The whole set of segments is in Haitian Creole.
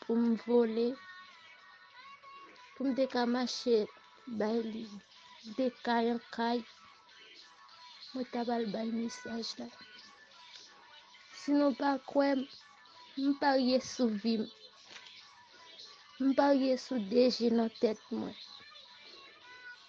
pou m vole, pou m te ka mache bay li de kay an kay, mwen ta bal bay mesaj la. Si nou pa kwè m, m parye sou vi m. M parye sou deje nan tèt mwen.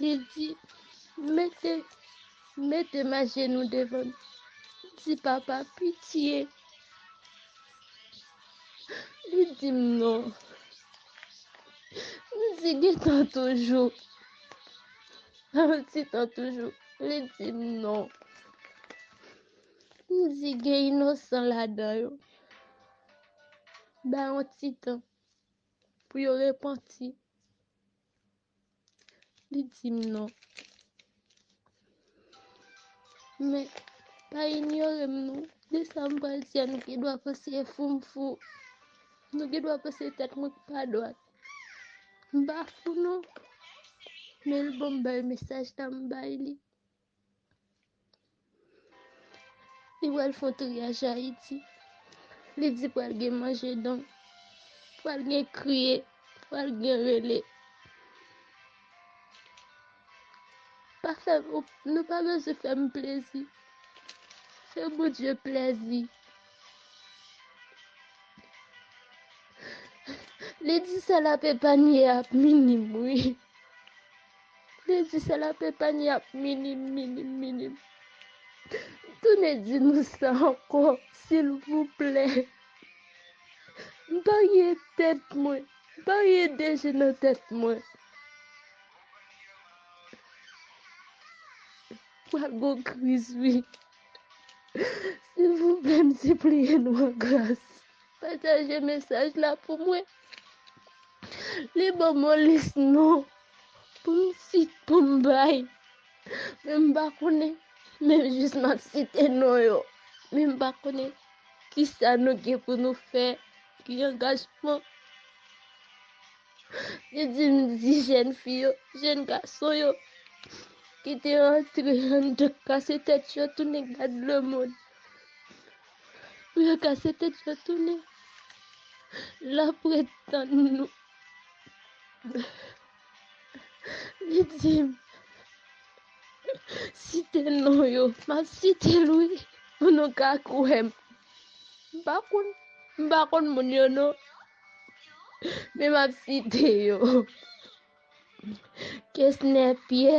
Li di, mete, mete ma jenou devan. Di papa, pitiye. Li di m non. M di gen tan toujou. An ti tan toujou. Li di m non. M di gen inosan ladan yo. Ba an ti tan. Pou yo repanti. Li di m non. Men, pa inyore m non. Di sa m pral di a nou gen dwa panse e fou m fou. Nou gen dwa panse tèt mwen k pa dwat. M pa fou non. Men l bon m bay mesaj la m bay li. Li pral fon triyaj Ayiti. Li di pral gen manje don. Pral gen kriye. Pral gen rele. Pa fè, nou pa bezou fè m plezi. Fè bon Dieu plezi. Li di sa la pe pa nye ap minim wi. Vle di se la pepèn y ap minim minim minim. Tounen di nou sa ankò silvouplè. M marye tèt mwen. M marye de je nan tèt mwen. Pral gen yon kriz wi. Silvouplè m sipliye nou an gras. Pataje mesaj la pou mwen. Li banm yon lis non pou m sit pou m bay men m pa konnen men jis m ap site non yo men m pa konnen kisa nou gen pou nou fè ki angajman li di m di jèn fi yo jèn gason yo ki te antre anndan kase tèt yo tounen gad lemonn. Pou yo kase tèt yo tounen la pou ret tann nou. Li di m, Site non yo. M ap site l wi pou nou ka kwè m. M pa konn, m pa konn moun yo non. Men m ap site yo. Kesnè Pyè,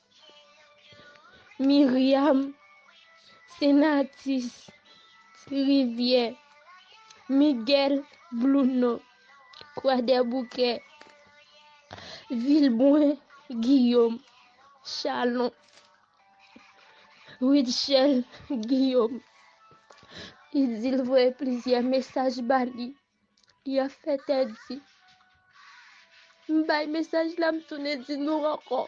Myriam se nan atis ti rivyè Miguel Blouno kwadèboukè Vilbrun Guillaume chalon Rutshelle Guillaume li di l voye plizyè mesaj ba li. Y'a fè tè di. M bay mesaj la m tounen di nou ankò.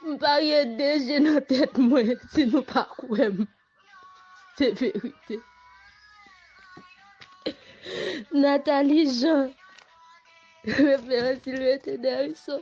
M parye de je nan tèt mwen si nou pa kwè m. Se verite. Nathalie Jean, référence Sylvestre Dericeau.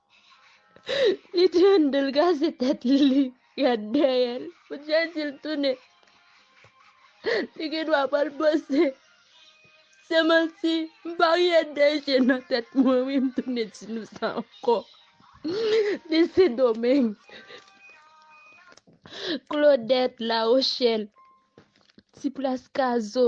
Li te an do l kase tèt li li gad dèyè l pou Jezi l tounen li gen dwa pa l panse se manti m pa rye de je nan tèt mwen wi m tounen di nou sa ankò li sendomeng Klodèt lawochèl ti plas kazo.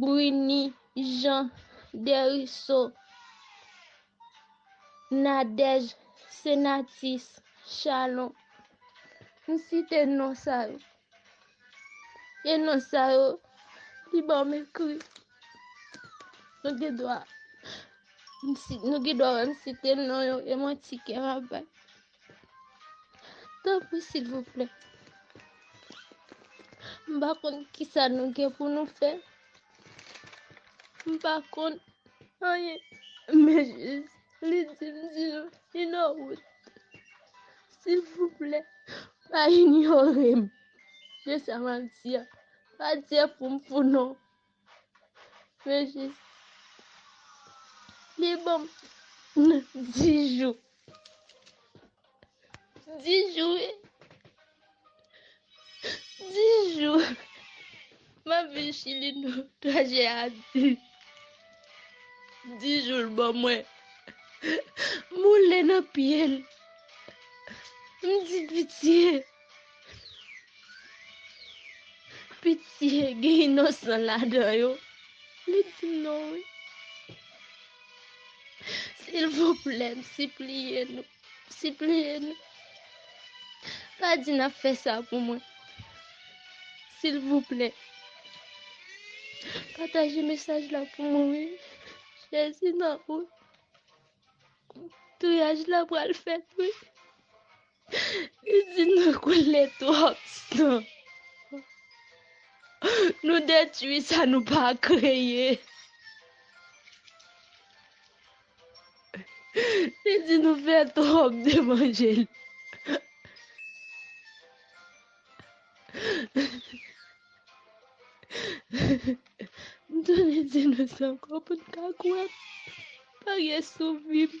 Bruny Jean Dericeau Nadège Senatus Chalon M site non sa yo e non sa yo ki ban m ekri Nou gen dwa wè m site non yo e manti kè m ap bay. Tanpri silvouplè. M pa konn ki sa nou gen pou nou fè. M pa konn anyen. Men jis li di m di nou inò wout. Silvouplè. Pa inyore m. Jis sa m ap di a. Pa di a pou m fou non. Rejis. Li ban m 10 jou. 10 jou e. 10 jou. M ap vin Chili nan trajè a di. 10 jou l ban mwen. M woule nan pye l. M di pitye. Pitye gen inosan ladan yo. Li di m non wi. Silvouplè m sipliye nou, sipliye nou. Pa di n ap fè sa pou mwen. Silvouplè. Pataje mesaj la pou mwen wi. Jezi nan ou. Touyaj la pral fèt wi. Izin nan koule twòp san. Nou detwi sa nou pa kreye. Li di nou fè twòp levanjil. M tounen di nou sa ankò pou n ka kwè m. Parye sou vi m.